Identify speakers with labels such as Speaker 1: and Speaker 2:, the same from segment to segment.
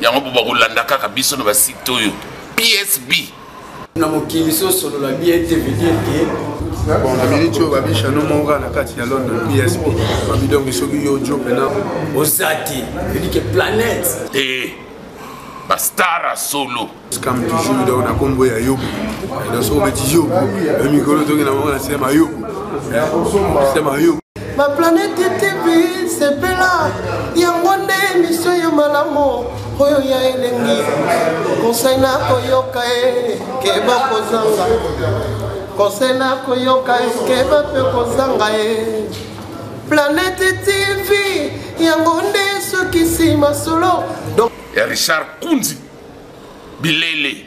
Speaker 1: yango mpo bakolanda kaka biso na basite oyo psb na
Speaker 2: mokili so osolola bien te veut dire que bon na miniti
Speaker 3: oyo babisha no moko kaka na kati ya london psp babi donc soki yo ojo mpena oza te
Speaker 2: veut dire que planète e eh, bastar
Speaker 1: ya solo scam toujours donc
Speaker 3: na kombo ya yobo donc soki obeti yobo yo mikolo toki na moko na sema yobo sema yobo
Speaker 4: baplanete tv sepela yango nde emisio ya malamu oyo ya elengi konsei na koyoka e keba kozanga konsei na koyoka e keba mpe kozanga e planete tv yango nde esukisi masolo ya richard
Speaker 1: kunzi bilele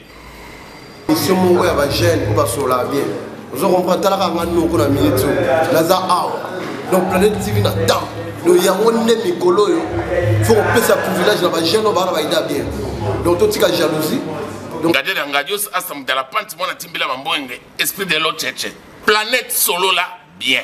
Speaker 4: mission moko ya bajeune oyo basola bien ozo comprendre talaka nga noko na minute oyo naza awa donc planète tv na temps do yango nde mikolo oyo fo kopesa privilège na bajeune oyo baana bayida bien donc totika jalousie ngade na
Speaker 1: ngadios asamudala panti mwana timbila bambwenge esprit de lo cheche planète solola bien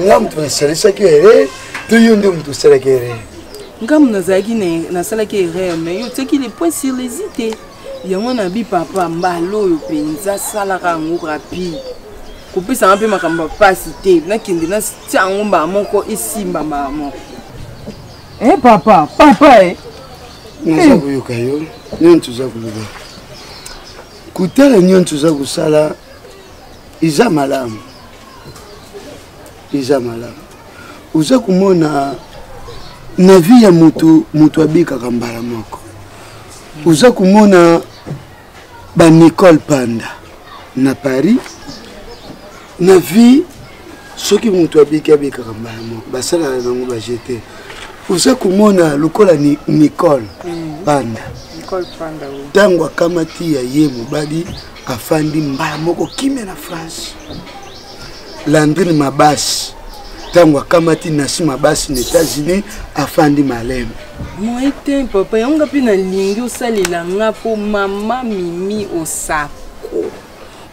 Speaker 5: nga moto nasalisaki erreur to yo nde moto osalaki erreur nga moto nazalaki
Speaker 6: nasalaki erreur mais yo otiaki le point sur les i te yango nabi papa mbala oyo mpenza salaka yango rapide kopesanga mpe makambo ya mpasi te nakende natya yango mbala moko esimba mbala moko e eh, papa papa e
Speaker 5: naza eh. koyoka yo nini toza koloba kotala nini toza kosala eza malamu eza malamu oza komona na vie ya moto moto abikaka mbala moko oza komona banicole panda na paris na vie soki moto abiki abikaka mbala moko basalaka nango bajete oza komona lokola ni, nicole mm. panda ntango akamati ya ye mobali afandi mbala moko kimia na france landrine mabasi ntango akamati nasi mabasi na états-unis afandi maleme moi te
Speaker 6: papa yango nga mpe nalingi osalela nga mpo mama mimi osako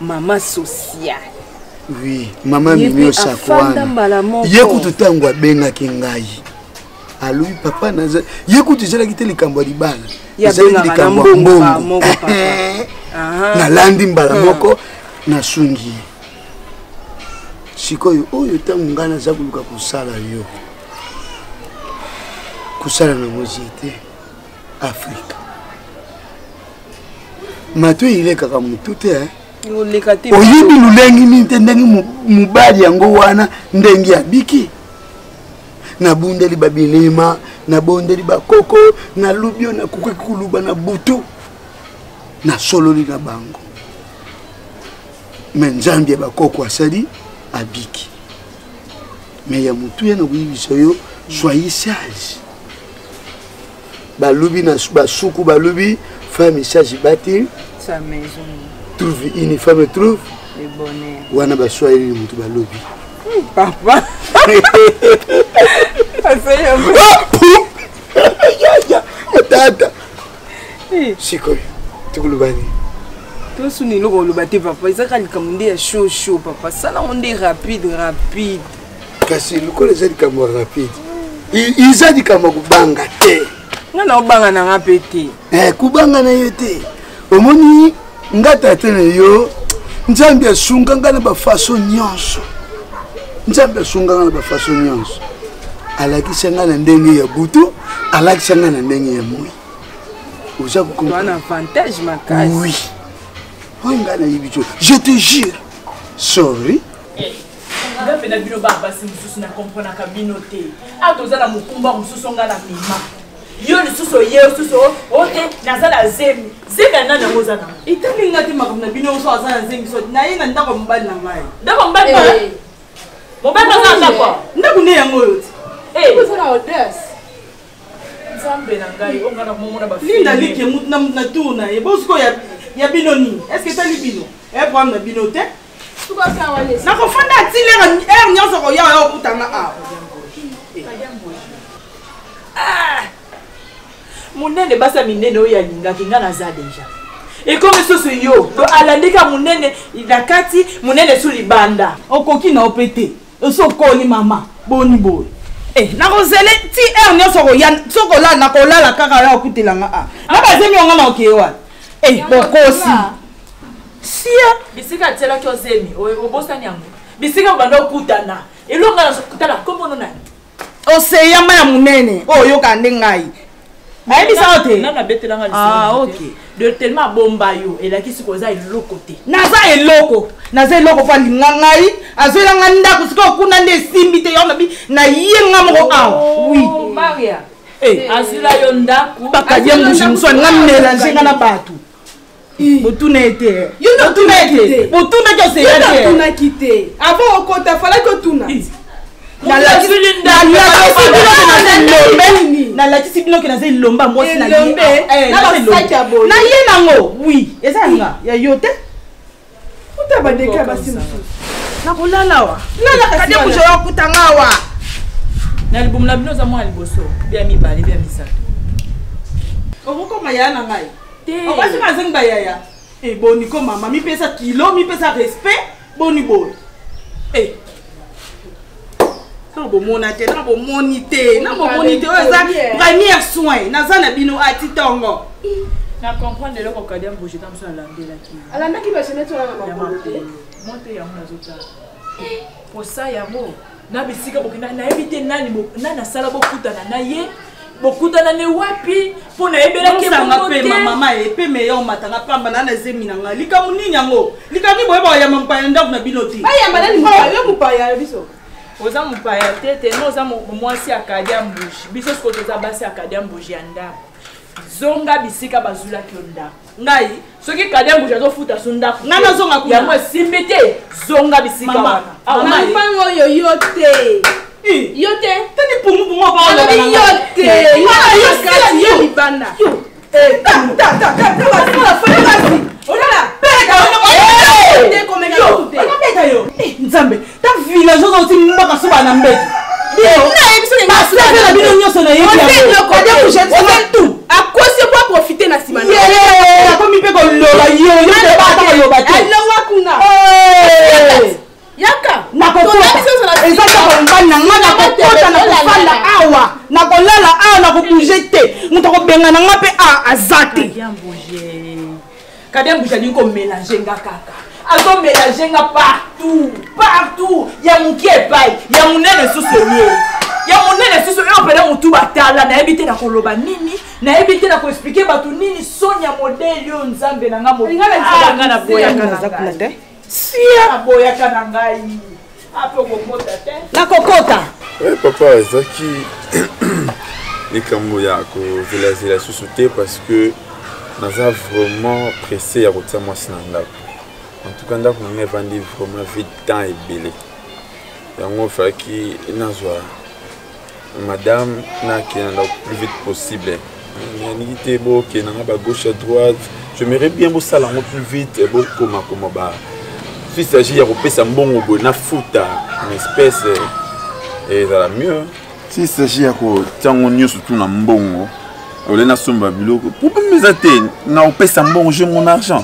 Speaker 6: mama sociale oui
Speaker 5: mama mimi osako wana ye kutu ntango abengaki ngai alobi papa naza ye kutu ezalaki te likambo ya libala ezalaki likambo ya mbongo nalandi mbala hmm. moko nasungi ye sikoyo oyo ntango ngai naza koluka kosala yo kosala na mozie te afrika mato eyilekaka motu te eh? oyebi lolengi nini te ndenge mobali yango wana ndenge abiki nabundeli babilima nabondeli bakoko nalubi oyo nakoki koluba na butu nasololi na bango me nzambe ya bakoko asali abiki me ya motuya na koyebisa yo soyi sage balubi na basuku balubi femme charge bâtir sa maison
Speaker 6: trouve une
Speaker 5: femme trouve le bonheur wana
Speaker 6: baswahili
Speaker 5: moto balobi papa tata sikoyo tokoloba nini
Speaker 6: tosuni eloko oloba te papa ezaka likambo nde ya show show papa salango nde rapide rapide
Speaker 5: kasi lokola eza likambo ya rapide eza likambo ya kobanga te nga na obanga
Speaker 6: na nga mpe te eh, kobanga na
Speaker 5: ye te omoni nga tata na yo nzambe asunga nga na bafaso nyonso nzambe asunga nga na bafaso nyonso alakisa nga na ndenge ya butu alakisa nga na ndenge ya moi oza kokomana avantage
Speaker 6: makasi oui
Speaker 5: oyo nga nayebi te je te jure sorry
Speaker 7: nga mpe na bino ba basi mosusu na komprenaka bino te a toza na mokumba mosusu nga na mema yo lisusu oye osusu ote naza na zemi zemi ya nani yango oza nango etali nga te makambo
Speaker 6: na bino oso aza na zemi so naye na ndako ya mobali na ngai ndako ya mobali eh.
Speaker 7: mobali aza na ndako ndako nde yango oyo
Speaker 6: te eh. oza na
Speaker 7: odes nzambe na ngai onga na momona balinda like
Speaker 6: na tour na ye bosikoya ya bino nini estce etali bino eproblème na bino te nakofanda ti lere heure nyonso koya oya okutanga awa ah!
Speaker 7: monene basi ya minene oyo alingaki ngai naza deja ekomi lisusu yo to alandika monene na kati monene su libanda okoki na yo mpe
Speaker 6: te osi okoli mama boni boye eh, nakozele ti heure nyonso okoya soki olala nakolala kaka ya okutela nga a na bazemi yonga na okeye wana eh, bokosi
Speaker 7: sia bisika atielaki ozemi obosani yango bisika obanda okutana elonga na kutana kombono nani oseya mai
Speaker 6: ya monene oyo oyokaka nde ngai ayebisaka te nanu abetelanga ah,
Speaker 7: okay. de
Speaker 6: tellement abomba
Speaker 7: yo elakisi ko oza eloko te naza eloko
Speaker 6: naza eloko mpo alinga ngai azoyela nga ndako sikoyo kuna nde esimbi te yaonabi naye nga moko awa oh, wi eh. eh,
Speaker 7: azila yo ndako bakadiangushi mosu
Speaker 6: alinga melange nga na bato botuna ye te botuna ye te botuna ke osela te otunaki
Speaker 8: te avant okota falaki otuna
Speaker 6: nalakisi bino ke naza elomba mwasi na ye na ye nango wi eza yanga ya yo te kuta
Speaker 8: badeke ya basi mosusu nakolala wa
Speaker 6: lalakade kuzo ya kutanga awa na
Speaker 7: libumu na bino oza mwana liboso bya mibale bya misato
Speaker 6: okokoma yaya na ngai obasi mazengi bayaya eh, boni ko mama mipesa kilo mipesa respect boni boye eh, ntango bomona te ntango bomoni te na bomoni te oyo eza première soin naza na bino ati ntongo na
Speaker 7: comprendre eloko kadi amboje ta mosu alandelaki alandaki baseneti
Speaker 8: wana na makolo te mo te yango
Speaker 7: nazotala mposa yango na bisika bokenda nayebi te nani asala bokutana na ye bokutana ne wapi mpo nayebelaki mama
Speaker 6: ye mpe meya omatanga pamba na na zemi na ngai likambo nini yango likambo nini boyeba oyamba mopaya na ndako na bino te bayamba nani mopaya yo
Speaker 8: mopaya ya biso oza mopaya
Speaker 7: te te no oza mwasi ya kadi ya mbuji biso sikoyo toza basi ya kadi ya mbuji ya ndako zonga bisika bazulaki yo ndako ngai soki kadembuji azofuta so ndako ngai nazonga kuna yango
Speaker 6: esimbi te
Speaker 7: zonga bisika wana mama oyo
Speaker 8: yo te yo te tani pumupumu
Speaker 6: abaolobi yo te yo
Speaker 8: kati yo libanda
Speaker 6: nzambe ta village oza oti mbaka soba na mbeto baseve na bino nyonso nayebiakotu
Speaker 8: akosi po aprofite na nsima akomi mpe
Speaker 6: koloba yoyoaloba te alowa kuna
Speaker 8: yaka nakokotaeza
Speaker 6: kaka mobali na ngai nakokota nakofanda awa nakolala awa nakobouge te moto akobengana ngai mpe awa aza te
Speaker 7: Kadem Bujadi ko mélanger nga kaka. Azo mélanger nga partout, partout. Ya muki epai, ya munene susu ye. Ya munene susu yo pele mutu batala na ebite na koloba nini, na ebite na ko expliquer batu nini sonya modèle yo nzambe na nga mo. Nga na boya nga na zakuna te. sia aboyaka na ngai ape okokota te
Speaker 6: nakokota e eh, papa
Speaker 3: ezalaki likambo ya kozelazela susu te parce que naza vraiment pressé ya kotia mwasi na ndako en tout cas ndako na ngai evandi vraiment vide temps ebele yango falaki nazwa madame nakenda ndako plus vite possible nalingi te bokenda nga ba gauche à droite j'aimerais bien bosala yango plus vite bokomakoma ba si s'agit ya kopesa mbongo boye nafuta une espèce ezala mieux si s'agit ya kotia yango nyonso tu na mbongo olei nasomba biloko problème eza te nakopesa mbongo je mon argent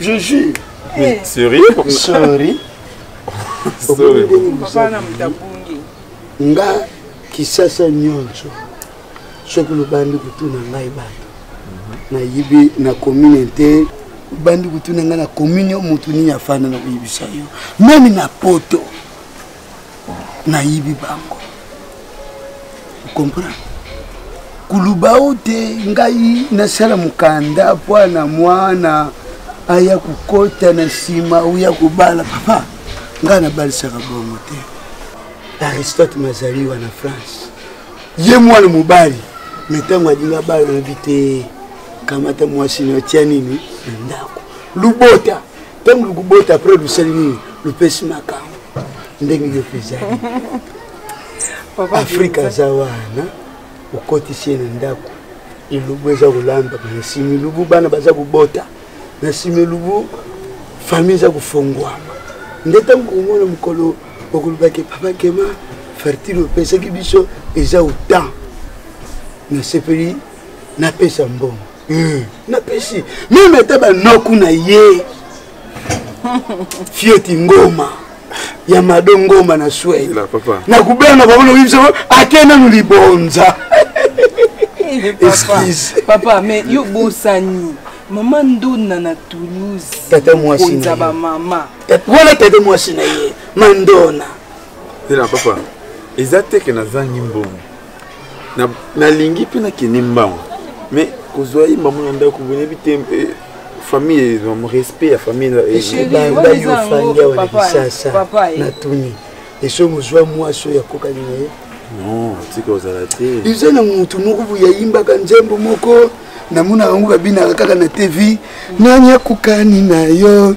Speaker 5: Je jure. Mais sorry.
Speaker 3: Sorry. Sorry.
Speaker 5: Papa
Speaker 3: na mutabungi.
Speaker 6: Nga
Speaker 5: kisasa nyonso. Soki lobandi kutuna ngai bato. Nayibi na commune te. Lobandi kutuna ngai na commune yo motu nini afanda na koyebisa yo. Meme na poto. nayibi bango comprendre kuluba o te ngai nasala mokanda mpo na mwana aya kokota na nsima oya kobala papa ngai nabalisaka bongo te aristote mazali wana france ye mwana mobali me ntango alingi abala nabi te kamata mwasi na otya nini na ndako lubota ntango lukubota apres lusali nini lupesi makambo ndenge yo mpezali afrika aza wana okotisi ye na ndako elubu eza kolamba nasimi lubu bana baza kobota nasimi lubu famille eza kofongwama nde ntango komona mokolo okolobaki papa kema fertile opesaki biso eza otan nasepeli napesa mbongo mm. napesi meme ata banoku na ye fieti ngoma ya mado ngoma na swei na kubenga bango na koyebisa bango ake nanu libonza excuse
Speaker 6: papa mais yo bosani mama ndona na toulouse tata mwasi na
Speaker 5: ba mama
Speaker 6: wana tata
Speaker 5: mwasi na ye mandona ela
Speaker 3: papa eza te ke nazangi mbongo nalingi mpe nakende mbango mais kozwa ye mamu na ndako boyebi te eh, famille eh, respect ya famille ebandaki
Speaker 5: ofandi awa na kinshasa natuni eso mozwa mwasi oyo akokani na ye non tika
Speaker 3: ozala te eza na motu moko
Speaker 5: boye ayimbaka nzembo moko namonaka yango babinaka kaka na tv nani akokani na yo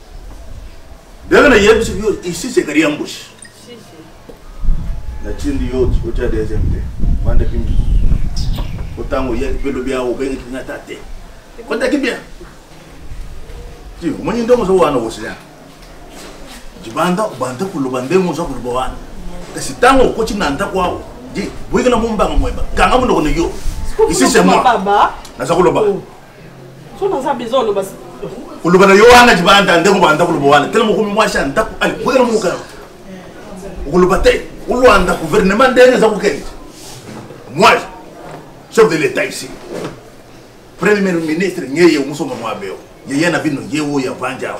Speaker 1: ndenge nayebisi yo ici c'est carrière mbushi natindi yo otya deuxième te banda kimbi po ntango oyaki mpe lobi awa obengaki nga ata te kotaki bien ti omoni ndenge oza wana osia libanda obanda koloba ndenge oza koloba wana kasi ntango okoti na ndako awa di boyekela mombanga moyeba kanga monoko na yo isi se moi naza koloba oh.
Speaker 7: oloba na
Speaker 1: yo wana libanda ndeko banda koloba wana tele mokomi mwasi ya ndako alibwela moka okoloba te olwanda gouvernement ndenge eza kokende moi chef de l'état ici premier ministre ngeye omusoma mwabeo yeye na bino ye oyo avandi awa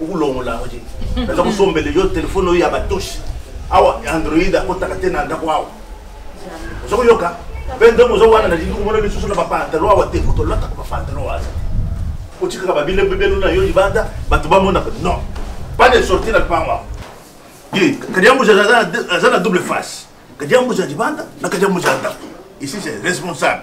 Speaker 9: okolongola yango te naza kosombele yo telefone oyo ya batoshi awa android akotaka te na ndako awa oza koyoka mpe ntongo oza wana nalingi komona lisusu na bapantalo awa te moto olataka bapantalo waza otikaka babile bibelo na yo libanda bato bamonaka non pas de sorti na lupango awa ye kadiambuza aza na double face kadiambuza libanda na kadiambuza ndako ici c'est responsable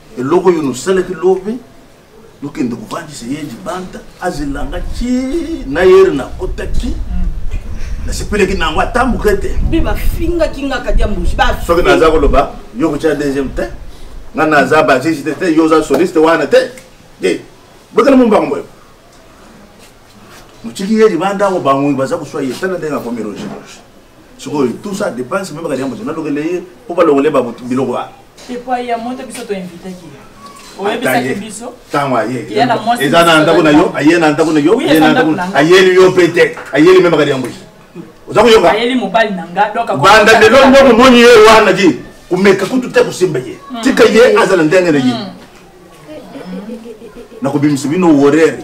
Speaker 9: eloko oyo nosalaki lobi nokende kovandisa ye libanda azelanga ti na yere nakotaki mm. nasepelaki na yango ata moke te mpe bafingaki
Speaker 7: nga kati ya mbushi soki naza koloba
Speaker 9: yo kotya deuxième te nga naza basiste te yo oza soliste wana te e bokela mombango boyo motiki ye libanda yango bango baza koswa ye tala ndenge akomi rogeroge sikoyo tout ça dépense meme kadi ya moto nalokele ye mpo balongole biloko wana epai ya moto
Speaker 7: biso toinvitaki ntango ayeeza
Speaker 9: na ndako na yo aye na ndako na yo ayeli yo mpe te ayeli meme kadi ya moto oza koyoka
Speaker 7: banda lelo nde komoni
Speaker 9: ye wana di komeka kutu te kosimba ye hmm. tika ye azala ndenge na ye hmm. nakobimisa bino worere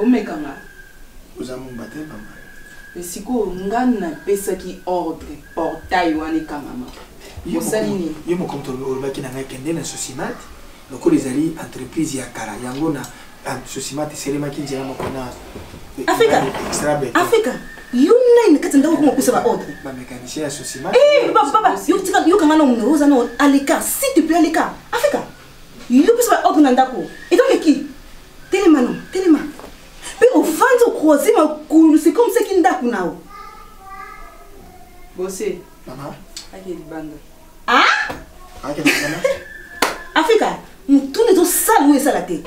Speaker 6: Omeka nga.
Speaker 10: Oza mumba te mama. Mais sikoyo
Speaker 6: nga napesaki ordre portail wana ekangama. Osali
Speaker 10: nini? Ye mokomto olobaki na ngai kende na Sosimate lokola ezali entreprise ya kala yango na ah, Sosimate eselemaki nzela moko na Afrika.
Speaker 7: Afrika. yo nani na kati ya ndako koma opesa baordre bamécanicien ya
Speaker 10: sosimababa
Speaker 7: eh, yokanga na omino oza na aleka si tu peux aleka afrika yo biso ba ordre na ndako etoleki telema no telema mpe ofandi okroise makulu c'est comme seki ndako nao
Speaker 6: bose ake
Speaker 10: libanda
Speaker 7: afrika motuna ezosala oyo esala te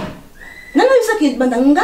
Speaker 7: nani oyebisaka
Speaker 11: libanda nga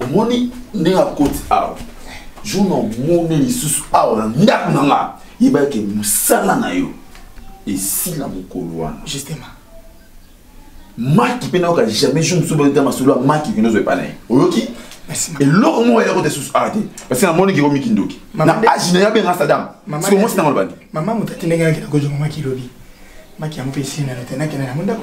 Speaker 10: omoni
Speaker 3: ndenge akoti awa jour na omoni lisusu awa na ndako na nga yeba ete mosala na yo esila mokolo wana justement maki mpe nayoka jamais jour mosusu bayoka masolo ya maki kende ozwa epai na ye oyoki eloko
Speaker 10: moko yako te
Speaker 3: susu awa te parce que namoni keko mikindoki na age na ye abenga sadam siko mwasi nango lobandi mama moto atindengaki na
Speaker 10: kojongo maki lobi maki yango mpe esili nano te nakende nango ndako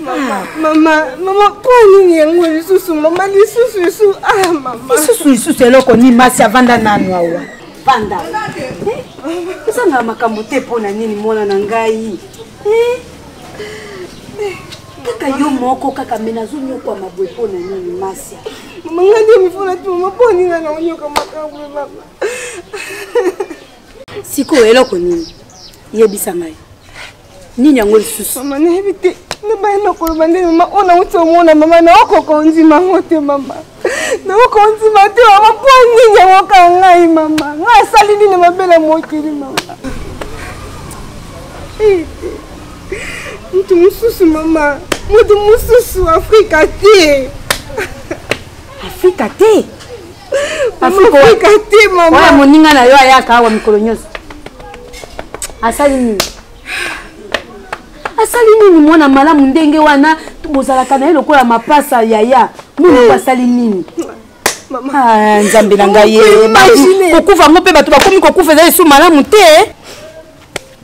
Speaker 8: mama
Speaker 11: mama mama mpo nini yango lisusu mama lisusu lisusu ah mama lisusu lisusu eloko
Speaker 8: nini masi avanda nanu awa vanda ozanga eh, makambo te mpo na nini mwana na ngai eh? kaka yo moko kaka me nazonyokwama boye mpo na nini masia mama ngai nde
Speaker 11: mifona ti mama mpo nini ngai naonyoka makambo mama
Speaker 8: sikoyo eloko nini yebisa ngai nini yango lisusu mama nayebi te
Speaker 11: nabaya nakoloba nde mama oyo nauti omona mama naokoka ondima yango te mama naokoka ondima te mama mpo nini yango kaka ngai mama ngai asali nini mabe na mokili mama moto mosusu mama moto mosusu afrika te
Speaker 8: afrika te
Speaker 11: afrika te mama moninga na yo ayaka
Speaker 8: awa mikolo nyonso asali nini asali nini mwana malamu ndenge wana bozalaka na ye lokola mapasa yaya mwana hmm. asali nini
Speaker 11: ah, nzambe na
Speaker 8: ngai kokufa yango mpe bato bakomi kokufa eza lisusu malamu te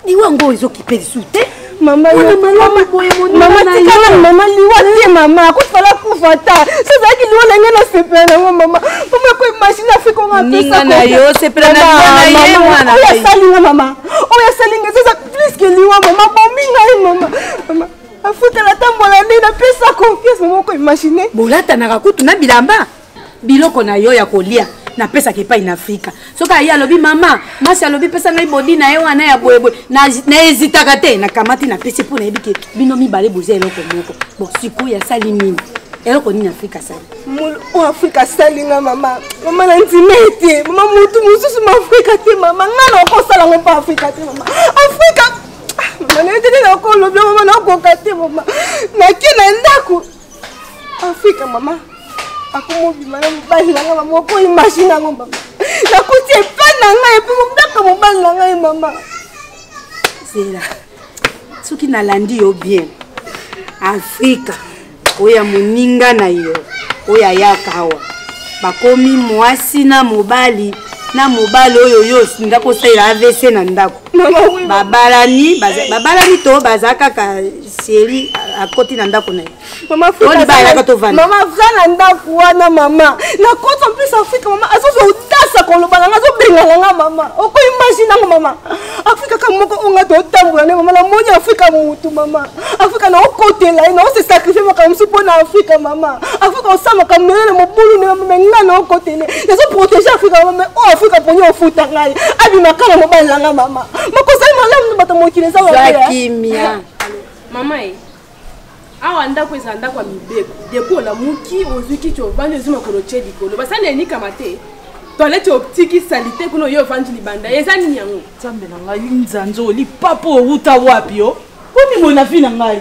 Speaker 8: liwa yango ezokipe lisusu te mama
Speaker 11: tikala mama liwa te mama akufala kufa ta sozalaki liwa na ngai nasepela nango mama mama koi mashine afrika onga
Speaker 8: apesaoyo asali nga mama
Speaker 11: oyo asali nga eza pliske liwa mama bomi ngai mama mama afutela tambola nde napesa confiance mama koi mashine bolatanaka kutu na
Speaker 8: bilamba biloko na yo ya kolia napesaka epai na afrika soki aye alobi mama masi alobi pesa ngai bodi na ye wana ya boyeboye naezitaka te nakamati napesi mpo nayebi ke bino mibale boza eloko moko bon sikoyo asali nini eloko nini afrika asali o afrika
Speaker 11: asali nga mama mama na ndima ete mama motu mosusu ma afrika te mama nga na okosala ngo mpo afrika te mama afrika ah, mama na yo te nde nakolobi mama nakoka te mama nake na ndako afika mama akomobima na mobali na ngai mama okoyi mashine yango mama nakuti epai na ngai epai mobaka mobali na ngai mama
Speaker 8: zela soki nalandi yo bien afrika oyo ya moninga na yo oyo ayaka awa bakomi mwasi na mobali na mobali oyo yo olinga kosalela avc na ndako babalani babalani to baza kaka seri akoti na ndako na ye
Speaker 11: mama fra na ndako wana mama nakoti en plus afrika mama azozwa otasa koloba nanga azobengana nga mama okoimagine yango mama afrika kaka moko oyo nga totambola nde mama namoni afrika motu mama afrika naokotela ye naosesakrifie makambo mosusu mpo na afrika mama afrika osala makambo melele mobulu nde mama nga naokotele nazoprotege afrika mama oyo afrika poni ofuta ngai abima kaka mobali na nga mama makozali malamu na bato mokili eza eh. kimia
Speaker 8: mama e
Speaker 12: awa ndako ezala ndako ya mibeko depo olamuki ozwi kiti ovandi ozwi makolo otye likolo basali enikama te toilette otiki salite kuna oyo ovandi libanda eza nini yango nzambe na ngai
Speaker 7: nzanzo lipapo owuta wapi yo komimona vi na ngai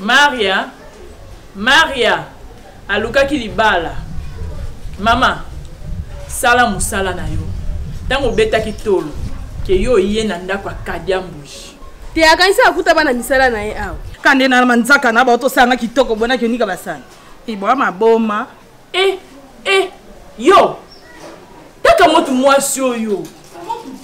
Speaker 12: maria
Speaker 13: maria alukaki libala mama sala mosala na yo ntango obetaki tolo ke yo oye na ndako ya kadiambuji te akanisi
Speaker 12: akuta bana misala na ye awa kande na manzaka
Speaker 7: na bao tosanga kitoko bonaki onika basani ibwa maboma Eh, eh,
Speaker 13: yo kaka motu mwasi oyo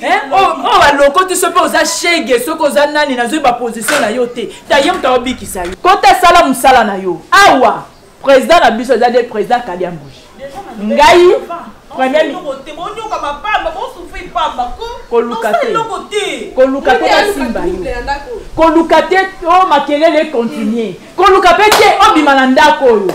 Speaker 13: eh, oyo oh, oh, balokoti soki oza shege soki oza nani nazwi baposition na yo te taye moto aobikisa yo kota sala mosala na yo awa président na biso eza nde président kadiambuji ngai koluka te koluka te nasimba yo koluka te o makelele continue koluka mpe te obima na ndako oyo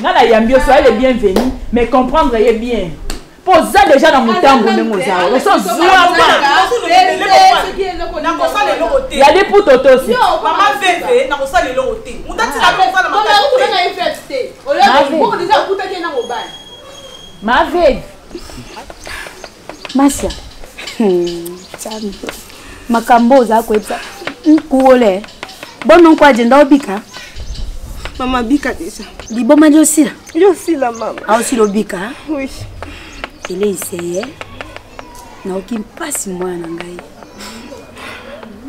Speaker 13: nga na yambi yo soyez le bienvenu mais comprendre ye bien mpo oza deja na motambo ndenge oza oso zuama nakosala eloko te ya liputa otosi mama veve
Speaker 7: nakosala eloko te moto atika mpe eza na makasi
Speaker 12: te
Speaker 13: ma veve
Speaker 8: masia hmm, makambo oza koyebisa nkuole bono nko agenda obika
Speaker 11: mama bika deja liboma liosila
Speaker 8: liosila
Speaker 11: mama aosila obika
Speaker 8: oui eleiseye naoki mpasi mwana na ngai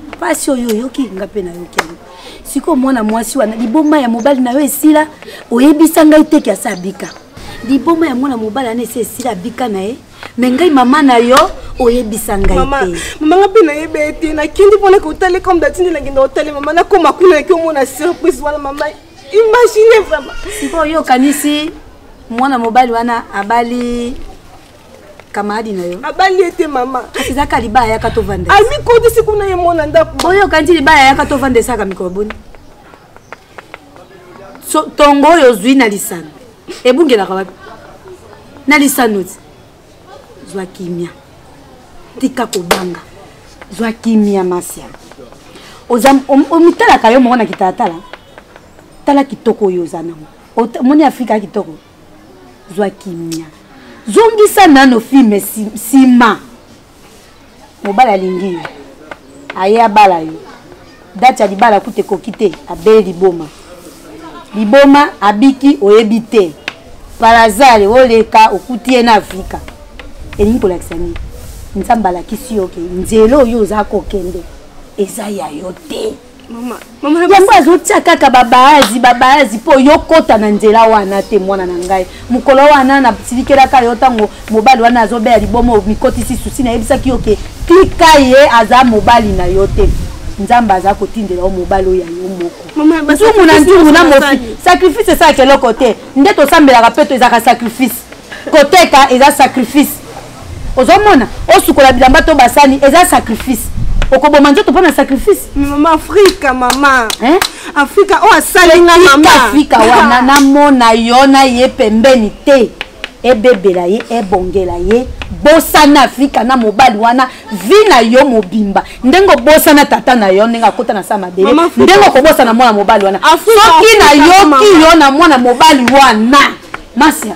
Speaker 8: mpasi oyo oyoki nga mpe nayoki yango sikoyo mwana mwasi wana liboma ya mobali na yo esila oyebisa ngai te ke asa abika liboma ya mwana mobali wana esi esila abika na ye me ngai mama na yo oyebisa ngai te mama nga mpe nayeba
Speaker 11: ye te nakindi mpo na kotale comme datindi nakenda kotale mama nakoma kuna yaki omona surprise wana mama imagine vraiment sikoyo okanisi
Speaker 8: mwana mobali wana abali kamaradi na yo abali ye te mama kasi
Speaker 11: ezaka libala yaka
Speaker 8: tovanda amikotisi kuna ye
Speaker 11: mwana ndako oyoka nti libala yaka
Speaker 8: tovanda esaka mikolo boni so, tongo oyo ozwi na lisano ebungelaka wapi na lisano ti zwa kimia tika kobanga zwa kimia masia omitalaka yo moko na kitalatala tala kitoko oyo oza nango omoni afrika ya kitoko zwa kimia zongisa nano filme nsima mobali alingi yo aye abala yo dati ya libala kuta ekoki te abeli liboma liboma abiki oyebi te palazare oleka okuti ye na afrika elingi kolakisa nini nzambe alakisi yo ke nzela oyo oza kokende eza ya yo te yango azotia kaka babaazi babaazi mpo yo kota na nzela wana te mwana na ngai mokolo wana nasilikelaka yo ntango mobali wana azobeya libomo mikotisi susi nayebisaki yo ke tika ye aza mobali na yo te nzambe aza kotindela yo mobali oyo ya yo moko nzungu na nzungu na mofi sacrifice esalaka eloko te nde tosambelaka mpe to ezalaka sacrifice koteka eza sacrifice ozomona osukola bilamba to basani eza sacrifice okoboma nzoto mpo na sacrifice mama afrika
Speaker 12: mama eh? afrika oyo oh, asali nga mama afrika wana
Speaker 8: namona yo na ye pembeni te ebebela ye ebongela ye bosana afrika na mobali wana vi na yo mobimba ndenge obosana tata na yo ndenge akota na sa mabele ndenge okobosana mwana mobali wana soki nayoki yo na mwana mobali wana masia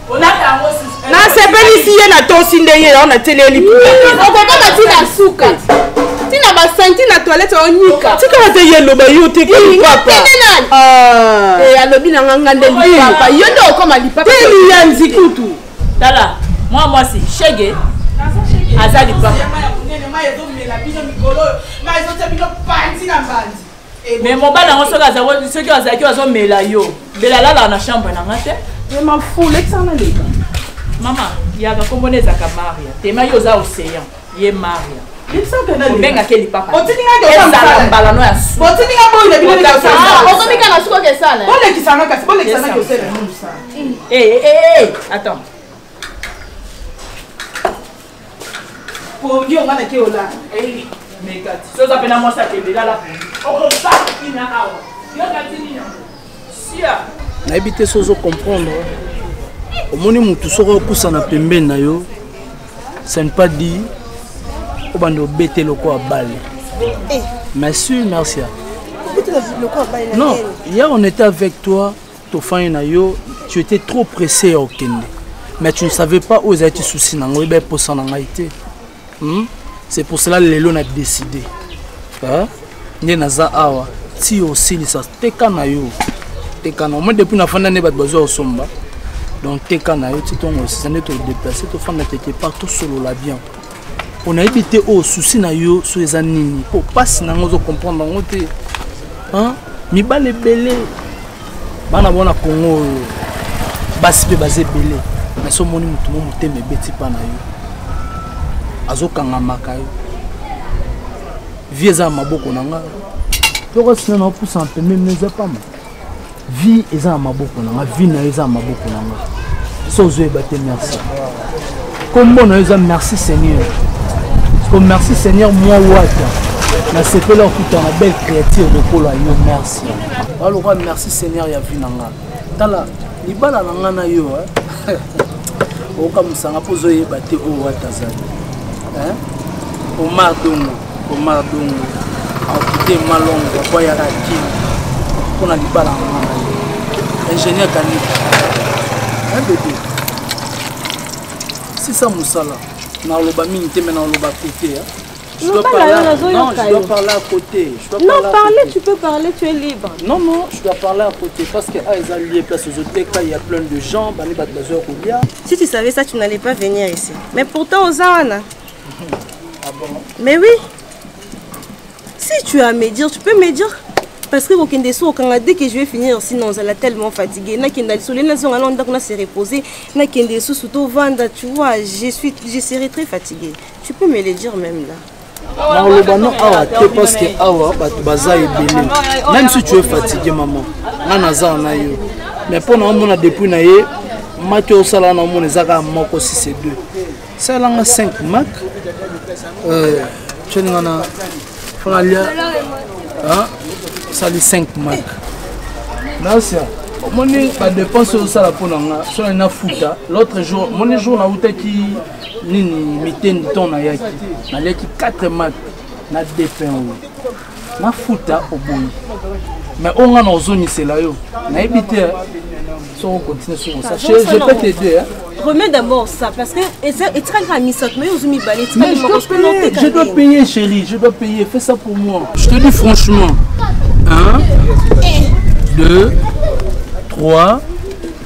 Speaker 13: nasepelisi
Speaker 11: ye natosi nde ye yango natieleli okokoma ti
Speaker 12: na suka ti na basanti na toilette onyika tika bate ye eloba
Speaker 11: yo te alobi
Speaker 12: na nga nga nde lipapa yo nde okoma lipapa ya nzikutu
Speaker 11: tala
Speaker 13: mwa mwasi shege aza lipapa mais mobali yango soki azali soki azalaki azomela yo mbela alalaka na chambre na nga te ema fule ekisana leka mama yaka kombo na ezalaka maria tema yo oza océan ye maria obengaki lipapaezala mbala no ya suokomika na sukoka esala attends
Speaker 11: pongi onga na keola eh, mekati
Speaker 13: so oza mpena mwasi akende lala pongi okosala kina awa yokati nini yango sia nayebi te
Speaker 14: so ozo comprendre omoni motu soki opusana pembeni na yo ce ne pas dit obanda obete lokola bale eh. mais sur marcia non hier on était avec toi tofani na yo tu étais trop pressé ya okende mais tu ne savais pas oyo ezalaki souci na ngai baeposa na ngai te hmm? c'est pour cela lelo na décide nde naza awa ti osilisa teka na yo teka na omoi depuis nafanda nde bato bazwa kosomba donc teka na yo ti ntongo osisa nde todeplace tofanda quelque part tosolola bien mpo nayebi te oyo susi na yo so eza nini mpo mpasi na yango ozocomprendre yango te mibali ebele bana bona kongo oyo basi mpe baza ebele mais so omoni motu mo motema ebeti mpa na yo azokangamaka yo vie eza na maboko na ngai tokosina na opusa mpembe mneza pamba vie eza na maboko na nga vie na yo eza na maboko na nga so ozoyeba te merci kombo na yo eza merci seigneur ko merci seigneur mwa wata nasepeli okuta na belle créature lokola yo merci balokola merci seigneur ya vie na nga tala libala na nga na yo eh. okamwisanga mpo ozoyeba te oyo wata azali eh. omar dongo Omar Dongo akite malongo po ya kaki mpo na libala ya mwana ye ingénieur kanika un bebe sisa mosala naloba mingi te me naloba kote ya Je dois, parler, non, je dois parler à côté. Je dois non, parler, parler tu
Speaker 12: peux parler, tu es libre. Non, non, je dois
Speaker 14: parler à côté parce que ah, ils ont lié place aux autres cas, il y a plein de gens, Bani Batbazor ou bien.
Speaker 12: Si tu savais ça, tu n'allais pas venir ici. Mais pourtant, aux Awana,
Speaker 14: mais oui
Speaker 12: si tu as à me dire tu peux me dire parce que kokende so okanga dès que je vais finir sinon ozala tellement fatigué nakenda lisolo nazonga nao ndako na se reposer nakende lisusu tovanda tu vois je suis je serai très fatigué tu peux me le dire même là nakoloba no
Speaker 14: awa te parce que awa bato baza ebele même si tu es fatigué maman nga naza na yo mais mpo na omona depuis na ye maki osala na omona eza kaka moko si c'est deux sala nga 5 mak ceni nga na fanga lia osali 5 mak nasia omoni badepense oyo osala mpo na nga sona nafuta l'autre jour moni jour nautaki nini mitendi nton nayaki naliaki 4 mak na depin oyo nafuta oboyi mais oyo nga na ozongisela yo nayebi te soko continue soko sa je peux te dire remets d'abord
Speaker 11: ça parce que etikali kaka misato mais ozwi mibale
Speaker 14: etikali moko je dois payer chérie je dois payer fais ça pour moi je te dis franchement 1 2 3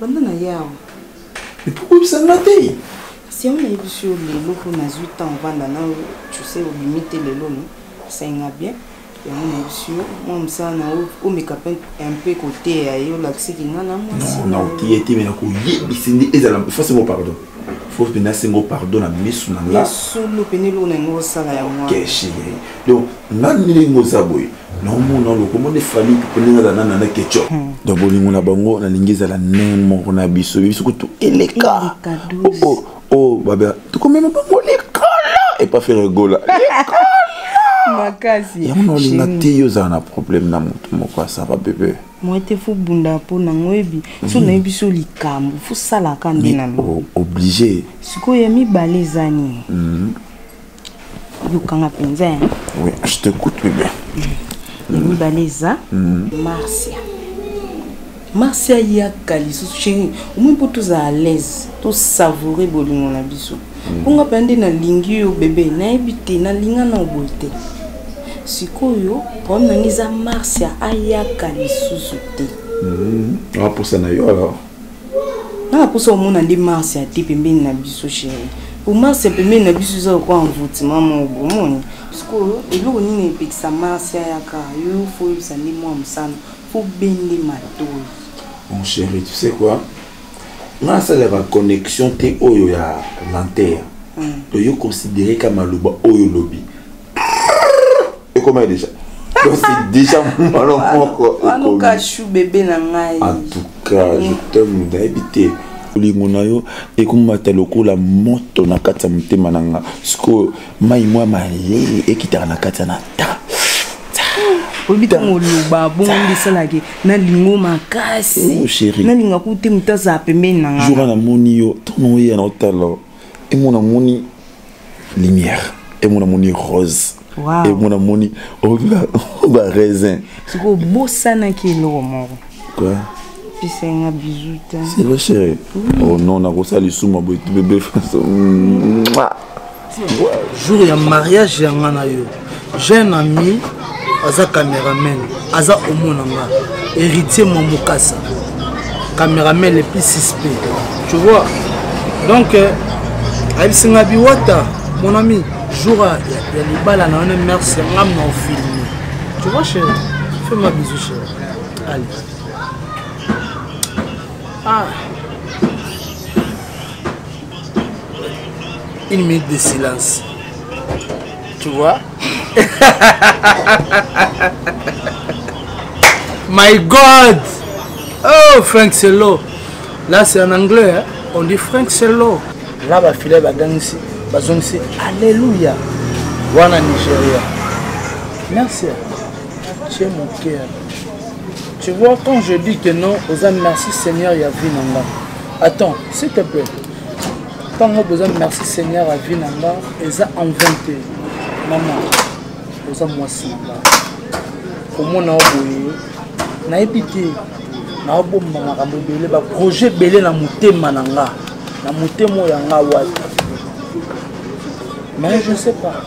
Speaker 3: banda na ye
Speaker 8: awa
Speaker 3: ekoyebisa nga te kasi yango
Speaker 8: nayebisi yo lelo mpo nazwi temps ovanda na yo tuse obimi te lelo no asainga bien yango nayebisi yo mwa mosala na yo omeka mpe un peu koteya ye olakisiki nga na mwasi na oteya te me
Speaker 3: nakoyebisi nde ezala fose ngo pardon faut mpenza asengo pardon na misu na ngasolo mpenza eloko
Speaker 8: na yango osala yango donc
Speaker 3: nani ndenge oza boye naomona wana okomona efami ndenge aza nana na keco hmm. donc bolingo na bango nalingi ezala ndenge moko na biso biso kutu eleka oh, oh, oh, babea tokomema bango likolo epa fere gola makasi
Speaker 8: yango na olinga te yo
Speaker 3: ozala na problème na motu moko asaba bebe moi te fo bunda
Speaker 8: mpo nango oyebi mhm. so nayebi so likambo fosalaka nde na oblige
Speaker 3: sikoyo ya mibale
Speaker 8: eza nini mhm. yokanga mpenza ya oui je t'écoute
Speaker 3: bebe ya
Speaker 8: mibale eza marsia marsia yaka lisusu chéri omoi mpo tozala à l'aise tosavoure bolingo na biso mm. mpo nga mpenza nde nalingi yo bebe nayebi te nalinga na oboye te sikoyo problème na ngai eza marsia ayaka lisusu te mm-hmm.
Speaker 3: aposa na yo alors nanga
Speaker 8: mposa omona nde mars ya te pembeni na biso chéri po mars ya pembeni na biso eza lokola envoutiment moko bomoni sikoyo eloko nini epekisa mars ayaka yo fo oyebisa nde mwa mosano fo bende matoi mon chéri
Speaker 3: tu sais quoi nga asalaka connexion te oyo ya lenteur hmm. oyo considere ka maloba oyo olobi ekomaki deja deja mwana moko anuka chou
Speaker 8: bebe na ngai en tout cas
Speaker 3: je t'aime nayebi te bolingo na yo ekomata lokola moto na kati ya motema na nga sikoyo mai mwa malele ekitaka na kati ya na ta
Speaker 8: oyebi ntango oloba bongo nde esalaki nalingo makasi oh, nalinga ku
Speaker 3: te moto
Speaker 8: azala pembeni na nga jour namoni yo
Speaker 3: ntango oyeya na otala emona moni lumière et mon amoni rose wow. et mon amoni oh, ba raisin siko bosana
Speaker 8: ki eloko moko quoi
Speaker 3: pesa
Speaker 8: nga bisou ta c'est vrai chérie
Speaker 3: oui. oh non na kosa lisuma boye bébé façon
Speaker 14: jour ya mariage ya nga na yo jeune ami aza cameraman aza omona nga héritier mwa mokasa cameraman le plus suspect tu vois donc euh, ayebisi nga biwata mon ami jour ya libala na wana merci nga mna ofilme tu vois chéri fais ma bisou chéri allez ah une minute de silence tu vois my god oh frank selo là c'est en anglais hein? on dit frank selo là bafilai bagangisi bazongisi alleluya wana nigeria merci tu es mon cœur tu vois quand je dis que non oza merci seigneur ya vie na ngai attends s'il te plaît ntango boza merci seigneur avi na nga eza en vain te mama oza mwasi na nga komona yo boye nayebi te naobomba makambo ebele baprojet ebele na motema na nga na motema oyo ya nga wapi mais je sais pas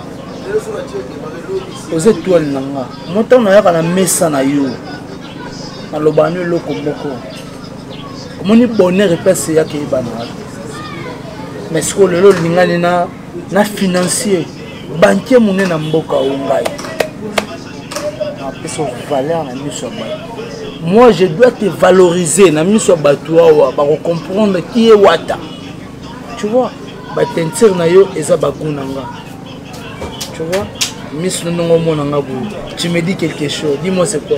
Speaker 14: oza etoile na nga motango nayaka na mesa na yo nalobaka no eloko moko omoni bonheur epese yaka eyebana mais sikoyo lelo olingani na na financier bankier monene na mboka o ngai apesa valeur na miso ya bato moi je dois te valoriser na miso ya bato awa bakocomprendre ki ye wata tu vois batentire na yo eza bagu na nga tu vois miso na ndongo omona nga boye tu me dis quelque chose dis moi c'est quoi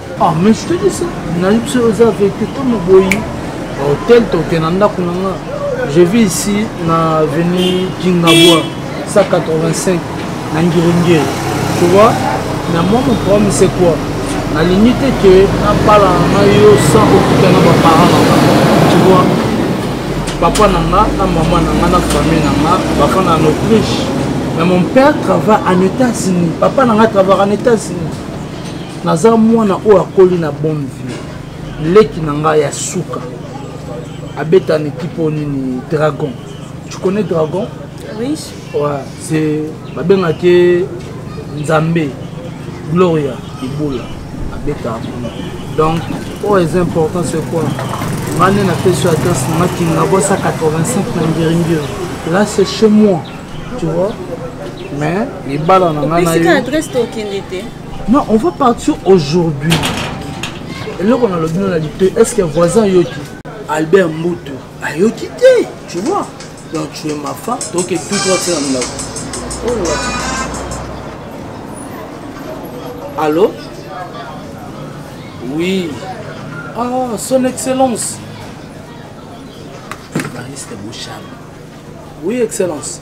Speaker 14: Ah, mais je te dis ça. Naïb, c'est aux vérité comme Boyi. Hôtel, t'es dans la Kunanga. Je vis ici, na avenue Kingabwa, 185, na Ngirungiri. Tu vois, mais moi, mon problème, c'est quoi La limite est que na bala na yo sans occuper na ba parents na Tu vois Papa na nga, na maman na nga, na famille na nga, papa na Autriche. Mais mon père travaille en États-Unis. Papa na nga travaille en États-Unis. naza mwana oyo akoli na bonne vie leki na ngai ya suka abeta na ekipe oyo nini dragon tu connais dragon oui.
Speaker 11: ouais,
Speaker 14: c'est babengaki nzambe gloria ibula abeta kuna donc oyo eza important c'est quoi nga nde napesi adresse na nga kingabosa 85 na ngiringiri là c'est chez moi tu vois mais libala na nga nayo
Speaker 11: Non, on va
Speaker 14: partir aujourd'hui. eloko nalobi no na lito est ce que voisin ayoki albert mbutu ayoki te tu vois donc tu es ma femme donc tout toi tina milako allo oui ah son excellence bariste bouchard oui excellence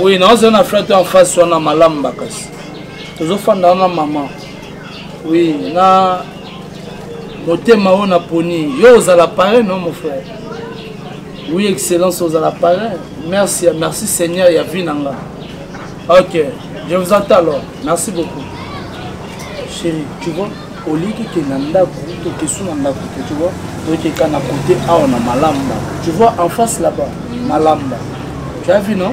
Speaker 14: oui naoza na frère to en face wana malamu bakasi tozofanda wana mama oui na motema oyo naponi yo ozala pareil non mon frère oui excellence ozala pareil merci merci seigneur ya vie na nga ok je vous entends alors merci beaucoup chérie tu vois au lieu que kenda ndako to kesu na ndako te tu vois tokeka na kote awa na malamba tu vois en face là-bas malamba tu as vu non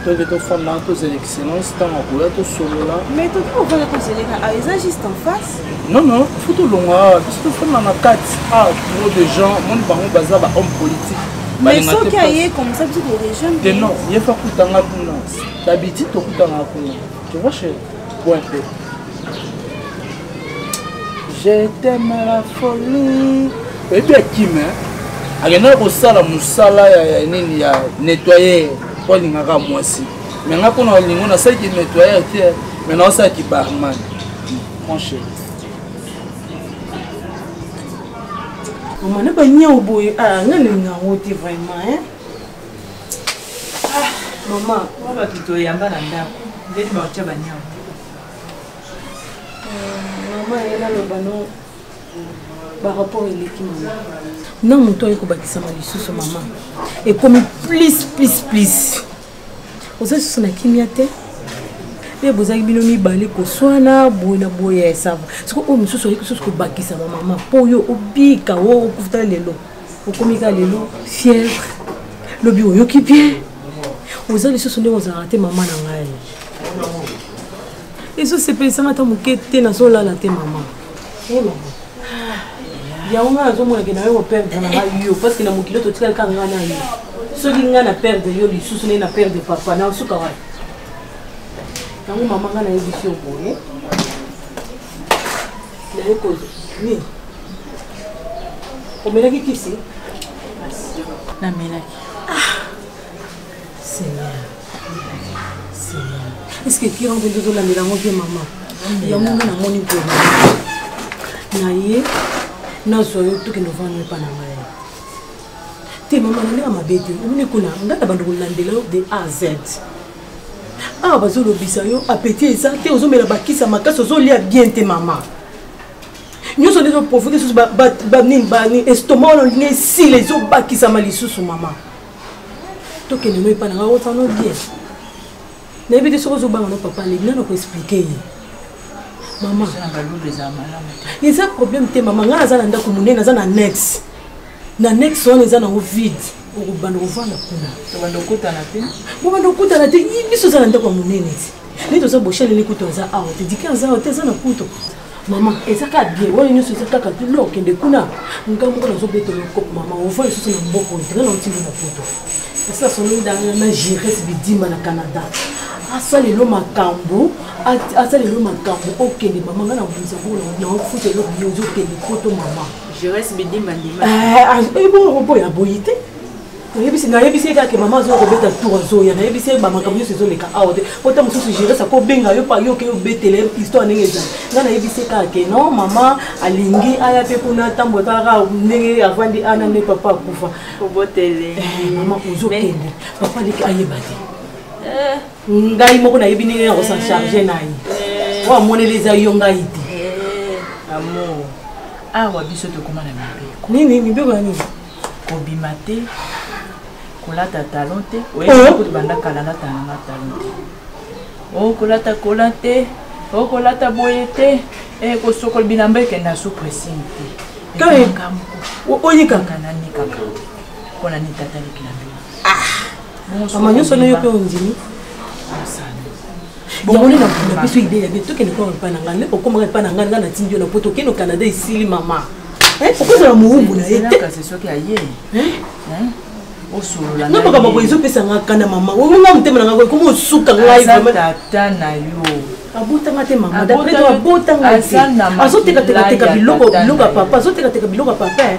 Speaker 14: toke tofanda tozela excellence ntango akoya tosolola mais toki kofanda
Speaker 11: tozeleka awa eza juste en face non non fo
Speaker 14: tolonga awa biso tofanda na kati ah trop de gens moni bango baza ba homme politique mais soki
Speaker 11: aye comme ça biso torejoindre te non ye fa kutanga
Speaker 14: kuna dabitide tokutanga kuna Tu vois chérie, bois un peu. Je t'aime à la folie. Et bien Kim, hein? akendaki kosala mosala ya nini ya nettoyer mpo alingaka mwasi me nga mpo na olingo nasalaki nettoyer te me naosalaki barman franche
Speaker 8: omana baniao boye ah, nga nalinga yango te vraiment ah, mama mwa bato toyamba
Speaker 7: na ndako ndeni baotya banyama euh,
Speaker 8: mama ye naloba no barapport eleki mama na moto aye kobakisama lisusu mama ekomi plis plis plis oza lisusu na kimia te mpe bozalaki bino mibale koswana boye na boye ya esava sikoyo oyo mosusu oyoki susu kobakisama mama mpo yo obika o okufutala lelo okomi ka lelo fièvre lobi oyoki bien oza lisusu ndenge ozalaka te mama na ngai ezosepelisanga ata moke te nazolala te mama eh, yango ngai nazomonake na yo koperdre na ngai yo parceke na mokili totikali ka ngai na yo soki ngai na perdre yo lisusu nde na perdre papa na osuka wapi yango mama ngai nayebisi yo boye nayekozo nini omelaki kisi namelaki
Speaker 7: ah!
Speaker 8: seigneur seigneur eske kira mpe tozolandela yango mpe mama yango nde namoni mpe na ye nazwa yo tokende ovanda epa na ngai te
Speaker 15: mama na ndenge mabe te omoni kuna ngai na bando kolandela yo de a z awa bazolobisa yo apeti eza te ozomela bakisa makasi ozolia bien te mama nyonso nde ezoprovoke lisusu banini bani estoma wana olingi esila ezobakisama lisusu mama tokende no epa nanga otano bien nayebi te soki ozobanga no papa lebi nano koexplike ye mama eza problème te mama ngai aza na ndako monene aza na nex na nex wana eza nango vide okobanda kovanda kuna bobanda okutana te biso eza na ndako ya monene te nde toza boshaleli kutu aza awa te dike aza awa te eza na kutu mama eza kaka bien wana nyonso eza kaka te no okende kuna nga moko nazobetela okope mama ova lisusu na mboko ntena na otinda na poto kasi asonoli danga na gires bidimba na canada asa lelo makambo asa lelo makambo okende mama nga nabundisa ngo naofuta eloko yo ozokende poto mama gires
Speaker 13: bidimba ndima ebongo eh, ah, eh,
Speaker 15: oboya boyi te oyebisi nayebisi ye kaka ke mama azoya kobeta tour azoya nayebisi ye bamakambo nyonso ezoleka awa te po ta mosusu geresa kobenga yo pa yo okeyi obetele histoire ndenge ezali nga nayebisi ye kaka ke non mama alingi aya mpe kuna ntambo kaka ndenge avandi ana nde papa akufa obotele eh,
Speaker 13: mama
Speaker 15: ozokende papa leki ayeba te eh. ngai moko nayebi ndenge ya kosan charge na ye eh. oyo amoneli eza yo ngai te amour
Speaker 13: awa biso tokoma na mibeko nini mibeko ya nini
Speaker 15: kobima
Speaker 13: te kolata talon te oyebi banda kala lata nanga talon te okolata oh, kola te okolata oh, boye te eh, kosokola bilamba ekenda su pressing te
Speaker 15: oyikaka nanikaka
Speaker 13: mpo na nitata likilamba
Speaker 15: mama nyonso wana yo mpe ondimi yango nde na biso idee ya bien tokende koma epai na ngai nde okomaka epai na ngai ngai natindi yo na poto okende canada esili mama eh, okozala mowumbu na ye te
Speaker 13: na makambo boye ezopesa nga
Speaker 15: kanda mama onga motema na ngai ekomi osuka ngai tata na
Speaker 13: yo abotanga te
Speaker 15: mama dapres to abotanga te azotekateka biloko biloko ya papa azotekateka biloko ya papa eh.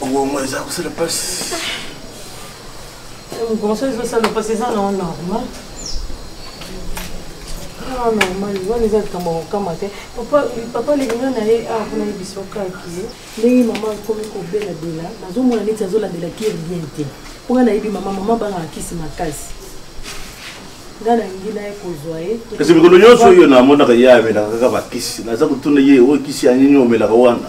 Speaker 9: Bongo eza kosala pasi. Bongo
Speaker 15: ezosala pasi eza na normal. Ah, normal wana eza likambo ya kokama te papa lingana na ye awa mpona yebisa okaki ndenge mama akomi kobelabela nazomona neti azolandela kiri bien te mpo ngai nayebi mama mama bangaka kisi makasi ngai nalingi naye kozwa ye kasi mikolo nyonso oyo
Speaker 9: namonaka ye amelaka kaka bakisi naza kotuna ye oyo kisi ya nini omelaka wana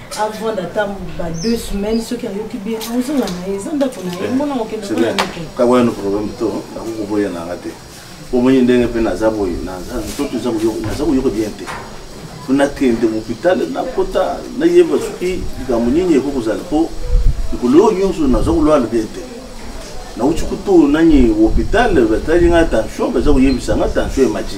Speaker 15: avant ata ba deux semaines soki
Speaker 9: ayoki
Speaker 15: bien ozonga
Speaker 9: na ye
Speaker 15: eza ndako na ye
Speaker 9: mbona
Speaker 15: okendekakwana
Speaker 9: no
Speaker 15: problème
Speaker 9: to
Speaker 15: nakokoboya nanga
Speaker 9: te omoni ndenge mpe naza boye naza koyoka bien te po nakende mopital nakota nayeba soki likambo nini ekoki kozala mpo likolo oyo nyonso naza kolwala bien te nauti kutu nani hopital batali nga tension baza koyebisa nga tension emati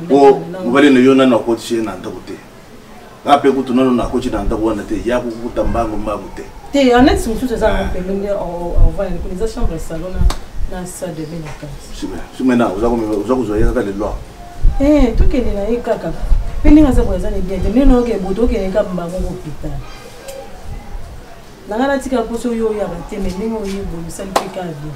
Speaker 15: po mobali na yo
Speaker 9: nanu akotisi ye na ndako te nga mpe kutu nanu nakoti na ndako wana te ya kokuta mbangu mbangu te te annexe mosusu
Speaker 15: eza na mpembe nde ovanda likolo eza chambre ya salon na salle de bain na kati sumena
Speaker 9: oza kozwa ye kaka lelo eh, tokende
Speaker 15: na ye kaka mpe ndenge aza koya eza na bien te ndenge nayoka eboto okende kaka mbango kopital nanga natika mposo oyo oyaka te me ndenge oyo ebongisali mpe kaka bien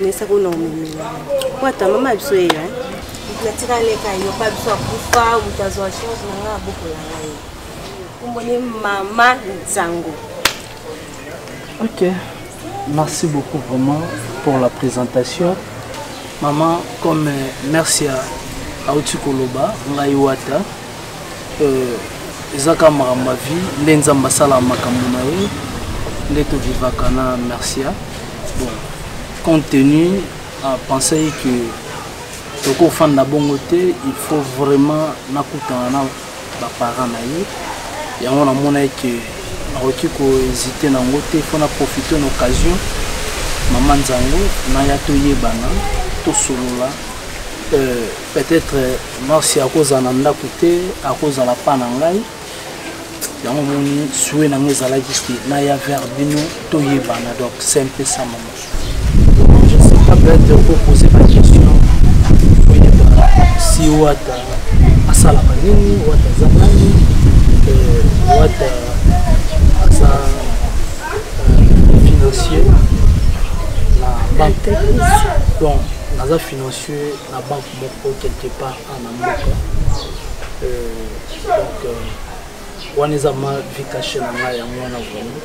Speaker 8: nesa kuna omemela po ata mama biso ye eh? natika leka yo pa biso akufa moto azwa chance na ngai abokola ngai omboni mama nsango
Speaker 14: ok merci beaucoup vraiment pour la présentation maman comme euh, merci à auti koloba ngai wata euh, eza kaka makambo ya vie nde nzambe asalaka makambo na ye nde tovivaka na mercia bon compte tenu apensaki que tokofanda bongo te il faut vraiment nakutana na baparent na ye yango namonaki ke nakoki kohésite na yango te mpo na profite na occasion mama nzango naya toyebana tosolola euh, peut-être marsi akozala na ndako te akozala pa na ngai yango moni sue na ngai ezalaki te naya vers bino toyebana donc c'est un peu ça mama je sais pas peut-être okoposer ba question oyebana si wata asalaka nini wata aza nani euh, wata aza euh, financier na banque donc naza financier na banque moko quelque part a na mboka euh, donc euh, wana eza ma vie cache na ngai yango wana vraiment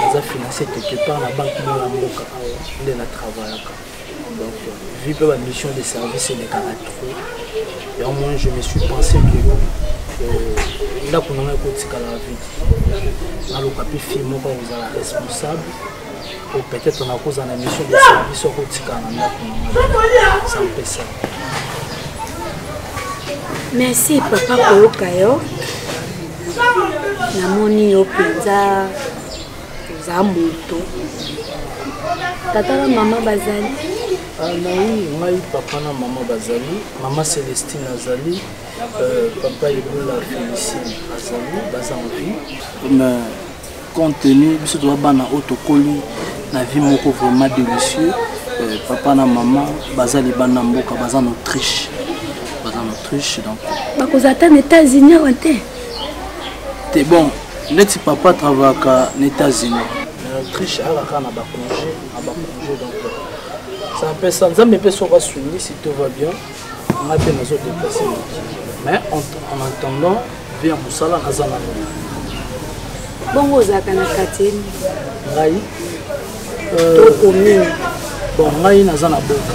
Speaker 14: naza financé quelque part na banque moko na mboka awa nde na travaillaka donc euh, vu mpe bamission de service elekaka trop yango moi je me suis pensé que ndako na ngai ekotikala vide naloka mpe fille moko akozala responsable po peut-être nakozala na mission de service okotikala na ndako nanga sampesa
Speaker 8: merci papa koyoka yo namoni yo mpenza oza moto tata na mama bazali ah, nayi
Speaker 14: ngai papa na mama bazali mama celestine azali euh, papa ebola félicine azali baza envie compte tenu biso toza bana oyo tokoli na vie moko vraiment délicieux euh, papa na mama baza libanda mboka baza na autriche baza na autriche donc bakozala
Speaker 8: ata na états-unis awa te
Speaker 14: te bon neti papa travaillaka na états-unis na autriche alaka na bacongé na bacongé donc ça mpe ça nzambe mpe soki asungisi tout va bien nga mpe nazo deplace mais en attendant mpe ya mosala naza na
Speaker 8: bongo ozalaka na quartier ngai
Speaker 14: euh, to
Speaker 8: commune bon ngai
Speaker 14: naza na boka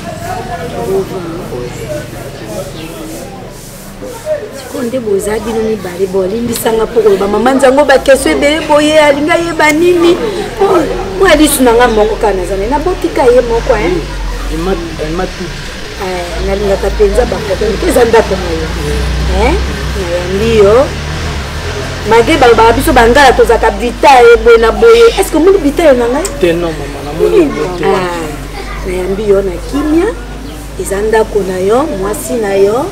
Speaker 8: po nde boza bino mibale bolimbisanga mpo koloba mama nzango bakestion ebele boye alingi ayeba nini mwa lisu na ngai moko kaka nazana nabotika ye moko nalingaka mpenza baproblème te eza ndako na yo nayambi yo malgre balobaka biso bangala tozalaka bitaye boye na boye est ce que omoni bitaye na ngai nayambi yo na kimia eza ndako na yo mwasi na yo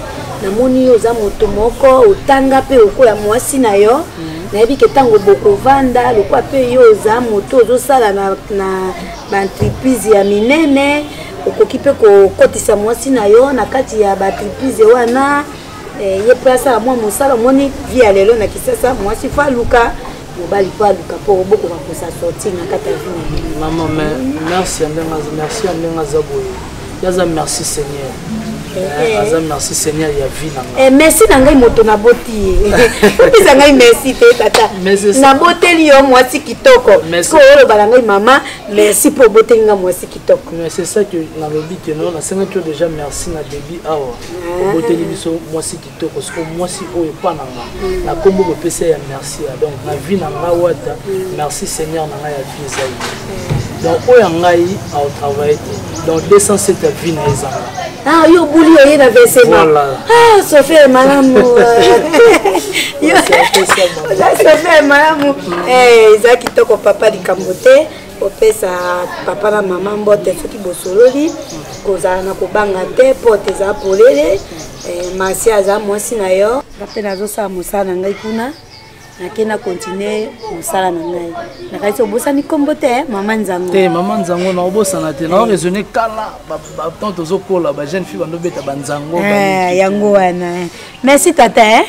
Speaker 8: namoni yo oza moto moko otanga mpe okoya mwasi na yo mm. nayebi ke ntango bokovanda lokola mpe yo oza moto ozosala na, na baentreprise ya minene okoki mpe kokotisa mwasi na yo na kati ya baentreprise wana eh, ye mpe asala mwa mosala omoni vi ya lelo na kisasa mwasi fo aluka mobali mpo aluka mpo bokoka kosa sorti na kati ya vie mama merci
Speaker 14: ya ndenge merci ya ndenge aza boye yaza merci seigneur eh, eh. aza merci seigneur ya vie na ngai eh, merci na ngai moto
Speaker 8: naboti ye opesa ngai merci te tata naboteli yo mwasi kitoko ko oloba na ngai mama merci mpo oboteli ngai mwasi kitoko mais c'est ça que
Speaker 14: nalobi keno nasengaki yo déjà merci na debi awa ah. oboteli biso mwasi kitoko soko mwasi oyo epa na nga na nkombo bopesa ya merci ya donc na vie na nga wata merci seigneur na ngai ya vie eza ye donc oyo ya ngai aotravaille te donc 207 ya vie na ezanga ah yo obuli
Speaker 8: oye na vesema voilà. ah sofi ya malamu sofi ya malamu eza kitoko papa likambo te kopesa papa na mama mbote soki bosololi kozala na kobanga te pote eza polele eh, masi aza mwasi na yo nga mpe nazosala mosala na ngai kuna nake na continue mosala na ngai nakanisi obosani nkombo te eh, mama nzango te mama nzango na
Speaker 14: obosana te nao raisonne kala batant tozokola bajeune fille bandobeta banzango eh, yango
Speaker 8: wana Merci tata hein.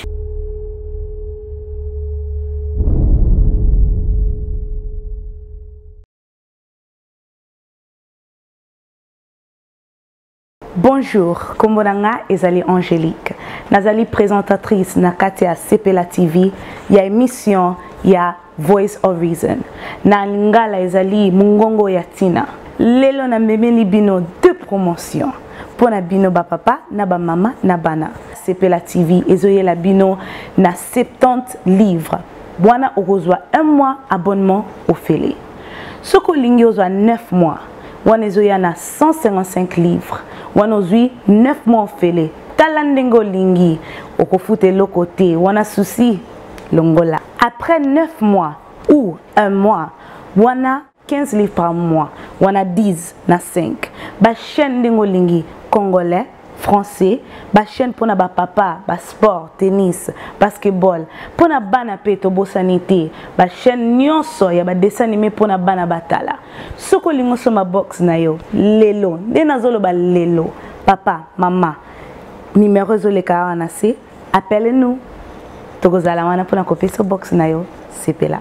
Speaker 16: Bonjour, Kombonanga Ezali Angélique. Nazali présentatrice na Katia Sepela TV, ya émission ya Voice of Reason na lingala ezali mongongo ya ntina. Lelo namemeli bino deux promotions mpo na bino bapapa na bamama na bana. Sepela TV ezoyela bino na 70 livres wana okozwa un mois abonnement ofele soki olingi ozwa 9 mois wana ezoya na 155 livres wana ozwi 9 mois ofele tala ndenge olingi okofuta eloko te wana susi longola après 9 mois ou un mois wana 15 livres par mois wana 10 na 5 bachaîne ndenge olingi congolais français bachaîne mpona bapapa basport tennis basketball mpona bana mpe tobosani te bachaîne nyonso ya badessin anime mpona bana batala soki olingi osomba box na yo lelo nde nazoloba lelo papa mama nimero ezoleka awa na se Appelle nous tokozala wana pona kopesa box na yo sepela.